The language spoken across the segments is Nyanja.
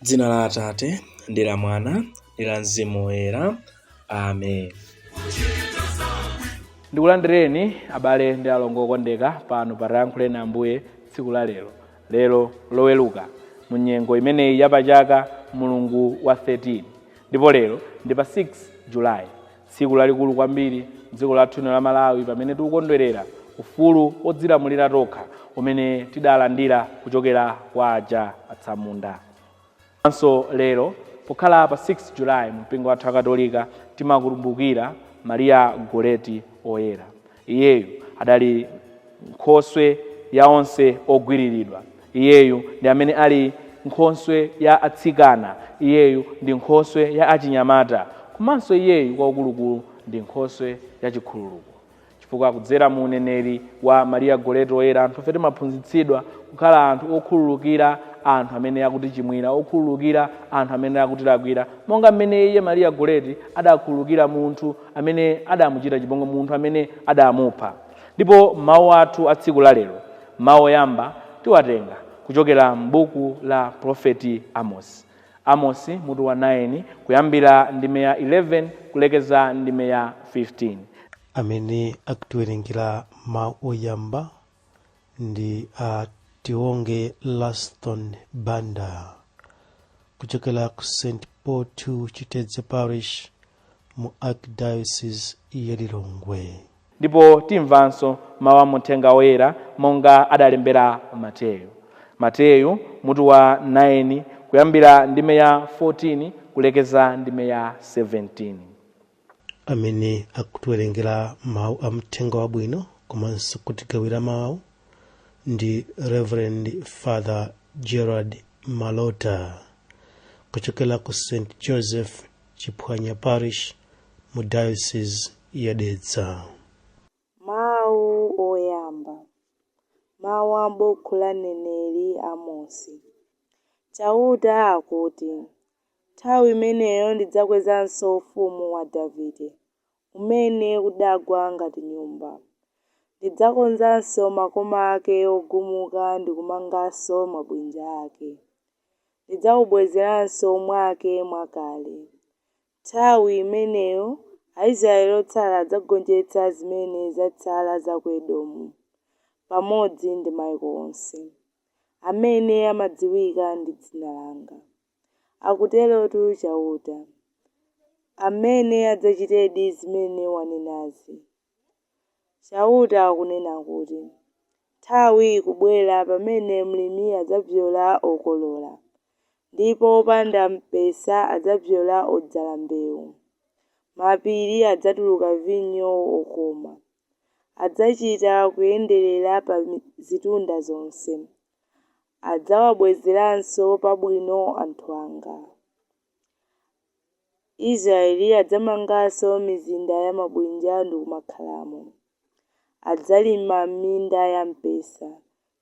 M'dzina la Atate, ndi la Mwana, ndi la Mzimu Woyera. Amen. ndikulandireni abale ndi alongo okondeka pano pa Tiyankhuleni ambuye tsiku la lero lero loweluka mu nyengo imeneyi ya pachaka mulungu wa 13 ndipo lero ndi pa 6 julayi Tsiku lalikulu kwambiri m'dziko lathu lino la Malawi pamene tikukondwerera ufulu wodzilamulira tokha umene tidalandira kuchokera kwa aja atsamunda. Komanso lero pokhala pa 6 Julayi mumpingo wathu wa Chikatolika timakumbukira Maria Goreti Oyera. Iyeyu adali Nkhoswe ya onse ogwiriridwa. Iyeyu ndi amene ali Nkhoswe ya atsikana. Iyeyu ndi Nkhoswe ya achinyamata. Komanso Iyeyu kwakukulukulu ndi Nkhoswe ya chikhululuko. Chifukwa kudzera mu uneneri wa Maria Goretti Woyera anthufe timaphunzitsidwa kukhala anthu okhululukira anthu amene akutichimwira, okhululukira anthu amene akutilakwira, monga mmene iye Maria Goretti adakhululukira munthu amene adamuchita chipongwe munthu amene adamupha. Ndipo mawu athu a tsiku la lero, mawu oyamba tiwatenga kuchokera m'buku la profeti Amosi. Amosi mutu wa 9 kuyambira ndime ya 11 kulekeza ndime ya 15. Amene akutiwerengera mawu oyamba ndi a tionge laston banda kuchokera ku st paul 2 chitedze parish mu archdiocese ya lilongwe ndipo timvanso mawu a mthenga woyera monga adalembera mateyu mateyu mutu wa 9 kuyambira ndime ya 14 kulekeza ndime ya 17 amene akutiwerengera mawu a mthenga wabwino komanso kutigawira mawu ndi reverend father gerald malota kuchokera ku st joseph chiphwanya parish mu diocese ya dedza Mawu oyamba. Mawu a m'buku la mneneri Amosi. Chauta akuti, Nthawi imeneyo ndidzakwezanso ufumu wa Davide, umene udagwa ngati nyumba. Ndidzakonzanso makoma ake ogumuka ndi kumanganso mabwinja ake. Ndidzaubwezeranso mwake mwakale. Nthawi imeneyo Aisraele otsala adzagonjetsa zimene zatsala za ku Edomu, pamodzi ndi maiko onse amene amadziwika ndi dzina langa. akuterotu Chauta, amene adzachitedi zimene wanenazi. Chauta akunena kuti, Nthawi ikubwera pamene mlimi adzabzola okolola, ndipo wopanda mpesa adzabzola odzala mbeu. Mapiri adzatuluka vinyo wokoma. Adzachita kuyenderera pa zitunda zonse. adzawabwezeranso pabwino anthu anga. Israeli adzamanganso mizinda ya mabwinja ndi kumakhalamo. Adzalima minda ya mpesa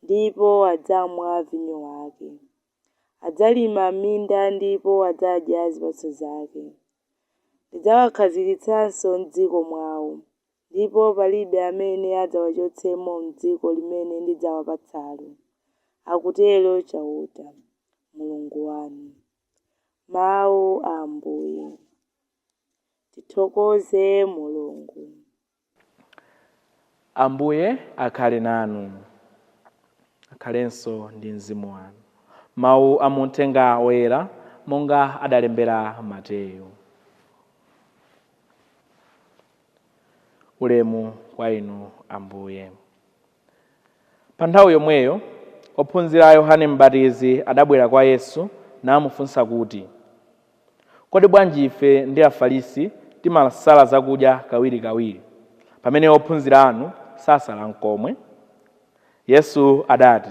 ndipo adzamwa vinyo wake. Adzalima minda ndipo adzadya zipatso zake. Ndidzawakhazikitsanso m'dziko mwawo ndipo palibe amene adzawachotsemo m'dziko limene ndidzawapatsalo, akutero Chauta, Mulungu wanu. Mau a Ambuye. Tithokoze Mulungu. Ambuye akhale nanu. Akhalenso ndi mzimu wanu. Mau a mu Uthenga Woyera monga adalembera Mateyo. Ulemu kwa inu Ambuye. Pa nthawi yomweyo, ophunzira a Yohane M'batizi adabwera kwa Yesu namufunsa kuti, Kodi bwanji ife ndi Afarisi timasala zakudya kawirikawiri, pamene ophunzira anu sasala nkomwe? Yesu adati,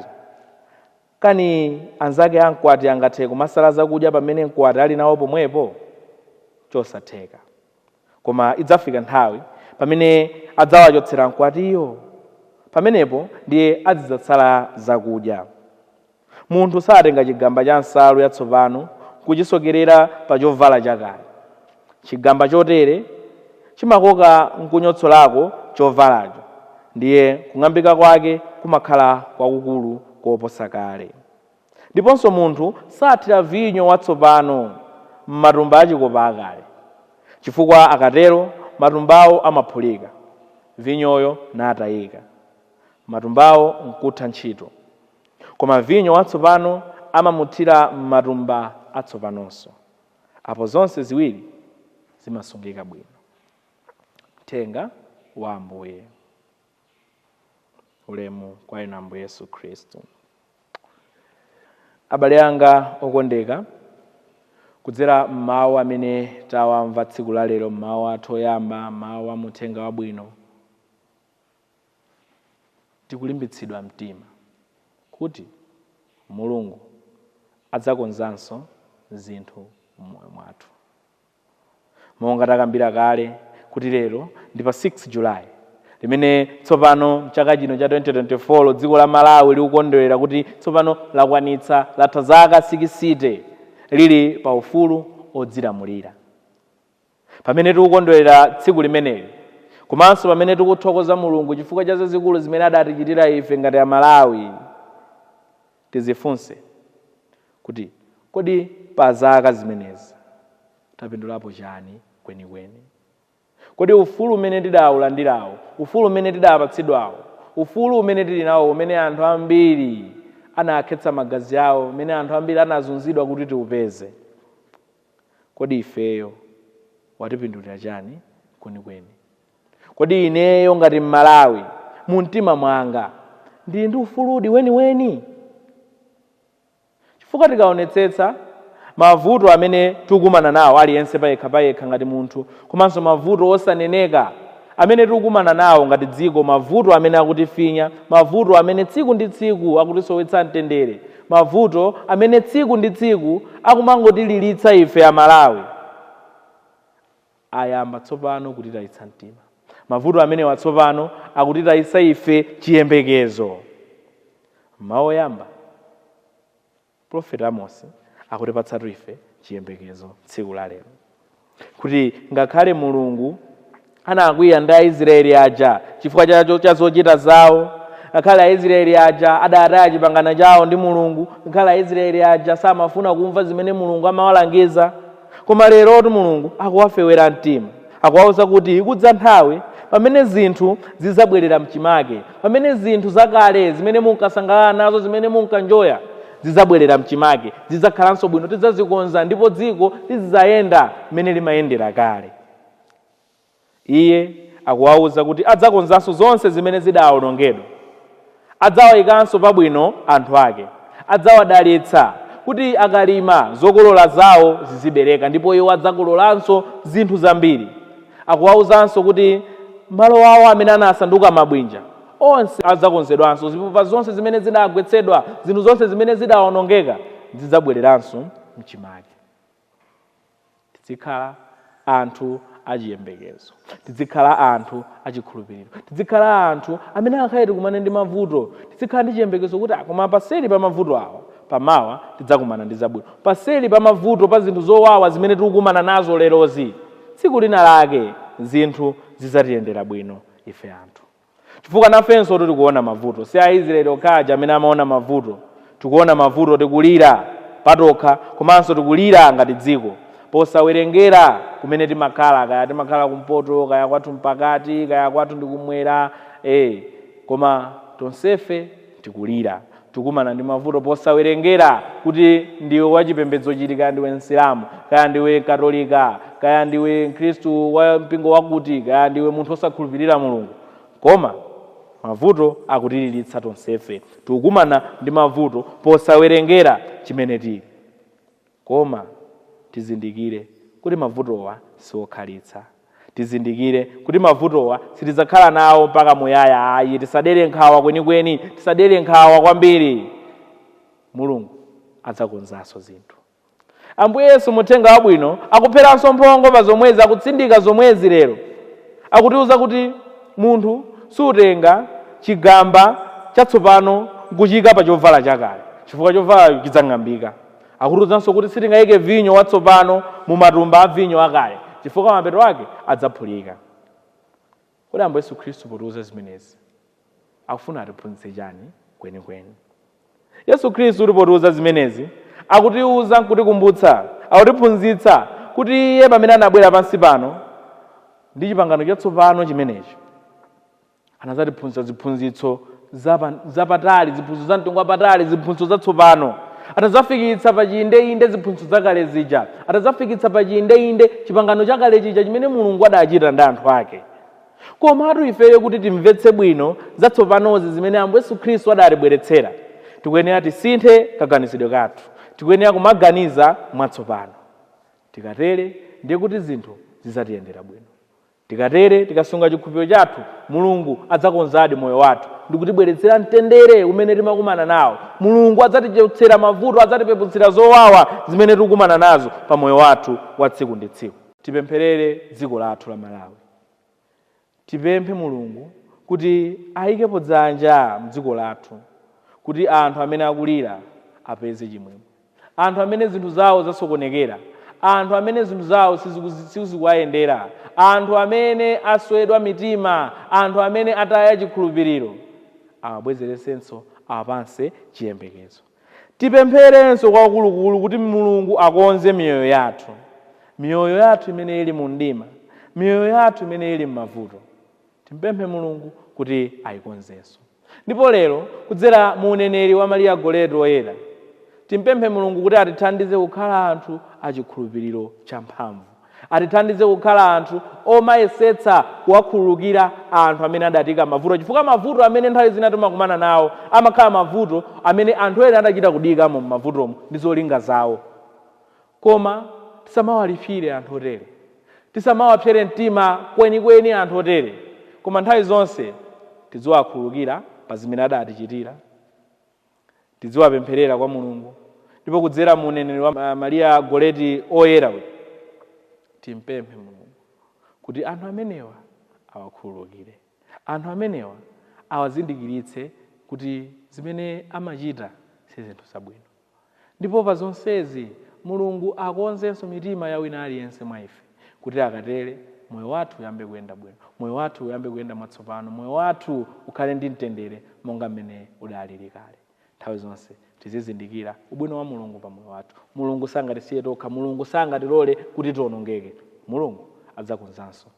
Kani anzake a mkwati angathe kumasala zakudya pamene mkwati ali nawo pomwepo? Chosatheka. Koma idzafika nthawi pamene adzawachotsera mkwatiyo. Pamenepo ndiye azidzasala zakudya. Munthu satenga chigamba cha nsalu yatsopano n'kuchisokerera pa chovala chakale. Chigamba chotere chimakoka n'kunyotsolako chovalacho, ndiye kung'ambika kwake kumakhala kwakukulu koposa kale. Ndiponso munthu sathira vinyo watsopano m'matumba achikopa akale, chifukwa akatero matumbawo amaphulika, vinyoyo natayika, matumbawo nkutha ntchito. Koma vinyo watsopano amamuthira m'matumba atsopanonso. Apo zonse ziwiri zimasungika bwino. Mthenga wa Ambuye. ulemu kwa inu ambuye yesu khristu abale anga okondeka kudzera m'mawu amene tawamva tsiku la lero m'mawu athu oyamba m'mawu a muthenga wabwino tikulimbitsidwa mtima kuti mulungu adzakonzanso zinthu m'moyo mwathu Monga takambira kale kuti lero ndi pa 6 July limene tsopano mchaka chino cha 2024 dziko la Malawi likukondwelera kuti tsopano lakwanitsa latha zaka sikisite lili pa ufulu odzilamulira. Pamene tikukondwelera tsiku limeneli komanso pamene tikuthokoza Mulungu chifukwa cha zazikulu zimene adatichitira ife ngati a Malawi, tidzifunse kuti, Kodi pa zaka zimenezi tapindulapo chani kwenikweni? Kodi ufulu umene tidaulandirawo, ufulu umene tidapatsidwawo, ufulu umene tili nawo umene anthu ambiri anakhetsa magazi awo, umene anthu ambiri anazunzidwa kuti tiupeze, kodi ifeyo watipindulira chani kwenikweni? kodi ineyo ngati mmalawi mu mtima mwanga ndili ndi ufuludi weniweni chifukwa tikaonetsetsa mavuto amene tikukumana nawo aliyense payekha payekha ngati munthu komanso mavuto osaneneka amene tikukumana nawo ngati dziko mavuto amene akutifinya mavuto amene tsiku ndi tsiku akutisowetsa mtendere mavuto amene tsiku ndi tsiku akumangotiliritsa ife amalawi ayamba tsopano kutitayitsa mtima. Mavuto amenewa tsopano akutitayitsa ife chiyembekezo. M'mawu oyamba, Profeti Amosi akutipatsatu ife chiyembekezo tsiku la lero, kuti ngakhale Mulungu anakwiya ndi Aisraeli aja chifukwa cha zochita zawo ngakhale aisraeli aja adataya chipangano chawo ndi mulungu ngakhale aisraeli aja samafuna kumva zimene mulungu amawalangiza Koma lerotu Mulungu akuwafewera mtima. Akuwauza kuti ikudza nthawi pamene zinthu zidzabwerera m'chimake, pamene zinthu zakale zimene munkasangalala nazo, zimene munkanjoya, zidzabwerera m'chimake. Zidzakhalanso bwino, tidzazikonza ndipo dziko lidzayenda mmene limayendera kale. Iye akuwauza kuti adzakonzanso zonse zimene zidawonongedwa. Adzawaikanso pabwino anthu ake. Adzawadalitsa kuti akalima, zokolola zao zizibereka ndipo iwo adzakololanso zinthu zambiri. Akuwauzanso kuti malo ao amene anasanduka mabwinja, onse adzakonzedwanso. Zipupa zonse zimene zidagwetsedwa, zinthu zonse zimene zidawonongeka, zidzabwereranso m'chimake. tidzikhala anthu achiyembekezo tidzikhala anthu achikhulupiriro tidzikhala anthu amene angakhale tikumane ndi mavuto tidzikhala ndi chiyembekezo kuti koma paseli pa mavuto awa pamawa tidzakumana ndi zabwino paseli pa mavuto pa zinthu zowawa zimene tikukumana nazo lerozi tsiku lina lake zinthu zidzatiyendera bwino ife anthu chifukwa nafenso tikuona mavuto si aisraeli okha aja amene amaona mavuto tikuona mavuto tikulira patokha komanso tikulira ngati dziko posawerengera kumene timakhala kaya timakhala kumpoto kaya kwathu mpakati kaya kwathu ndi kumwera koma tonsefe tikulira Tukumana ndi mavuto posawerengera kuti ndiwe wa chipembedzo chiti kaya ndiwe msilamu kaya ndiwe katolika kaya ndiwe mkhristu wa mpingo wakuti kaya ndiwe munthu osakhulupirira mulungu koma mavuto akutiliritsa tonsefe tikukumana ndi mavuto posawerengera chimene tili Koma tizindikire kuti mavutowa si okhalitsa. Tizindikire kuti mavutowa sitidzakhala nawo mpaka muyaya ayi. Tisadere nkhawa kwenikweni. Tisadere nkhawa kwambiri. Mulungu adzakonzanso zinthu. Ambuye Yesu mu Uthenga Wabwino akupheranso mphongo pa zomwezi, akutsindika zomwezi lero. Akutiuza kuti munthu sutenga chigamba chatsopano n'kuchiika pa chovala chakale, chifukwa chovalacho chidzang'ambika. Akutiuzanso kuti sitingaike vinyo watsopano mu matumba a vinyo akale chifukwa mapeto ake adzaphulika. Kodi Ambuye Yesu Khristu potiuza zimenezi akufuna atiphunzitse chani kwenikweni? Yesu Khristu potiuza zimenezi akutiuza nkutikumbutsa, akutiphunzitsa kuti Iye pamene anabwera pansi pano ndi chipangano chatsopano chimenecho. anadzatiphunzitsa ziphunzitso zapatali ziphunzitso za mtengo wapatali ziphunzitso zatsopano atadzafikitsa pa chiyindeinde ziphunzitso zakale zija atadzafikitsa pa chiyindeinde chipangano chakale chija chimene mulungu adachita ndi anthu ake komatu ifeyo kuti timvetse bwino zatsopanozi zimene ambuye yesu khristu adatibweretsera tikuyenera tisinthe kaganizidwe kathu tikuyenera kumaganiza mwatsopano tikatere ndiye kuti zinthu zidzatiyendera bwino Tikatere, tikasunga chikhulupiriro chathu, Mulungu adzakonzadi moyo wathu ndi kutibweretsera mtendere umene timakumana nawo. Mulungu adzatichotsera mavuto, adzatipeputsira zowawa zimene tikukumana nazo pa moyo wathu wa tsiku ndi tsiku. Tipempherere dziko lathu la Malawi. Tipemphe Mulungu kuti ayikepo dzanja mdziko lathu kuti anthu amene akulira apeze chimwemwe. anthu amene zinthu zawo zasokonekera, anthu amene zinthu zawo sizikuzi- sizikuwayendera, anthu amene aswedwa mitima, anthu amene ataya chikhulupiriro, awabwezeretsenso awapatsenso chiyembekezo. Tipempherenso kwakulukulu kuti Mulungu akonze miyoyo yathu, miyoyo yathu imene ili mu mdima, miyoyo yathu imene ili m'mavuto. Timpemphe Mulungu kuti aikonzenso. Ndipo lero, kudzera mu uneneri wa Maria Goretti Woyera, timpemphe Mulungu kuti atithandize kukhala anthu a chikhulupiriro champhamvu. Atithandize kukhala anthu omayesetsa kuwakhululukira anthu amene adatiika mavuto, chifukwa mavuto amene nthawi zina timakumana nawo amakhala mavuto amene anthu ena adachita kutiikamo m'mavutomo ndi zolinga zawo. Koma tisamawalipsire anthu otere. Tisamawapsere mtima kwenikweni anthu otere, koma nthawi zonse tidziwakhululukira pa zimene adatichitira. Tidziwapempherera kwa Mulungu, ndipo kudzera mu uneneri wa Maria Goreti Oyera, timpemphe Mulungu kuti anthu amenewa awakhululukire. Anthu amenewa awazindikiritse kuti zimene amachita si zinthu zabwino. Ndipo pa zonsezi, Mulungu akonzenso mitima ya wina aliyense mwa ife, kuti akatere, moyo wathu uyambe kuyenda bwino, moyo wathu uyambe kuyenda mwatsopano, moyo wathu ukhale ndi mtendere monga m'mene udalili kale. Nthawi zonse tizizindikira ubwino wa Mulungu pa moyo wathu. Mulungu sangatisiye tokha, Mulungu sangatilole kuti tionongeke. Mulungu adzakonzanso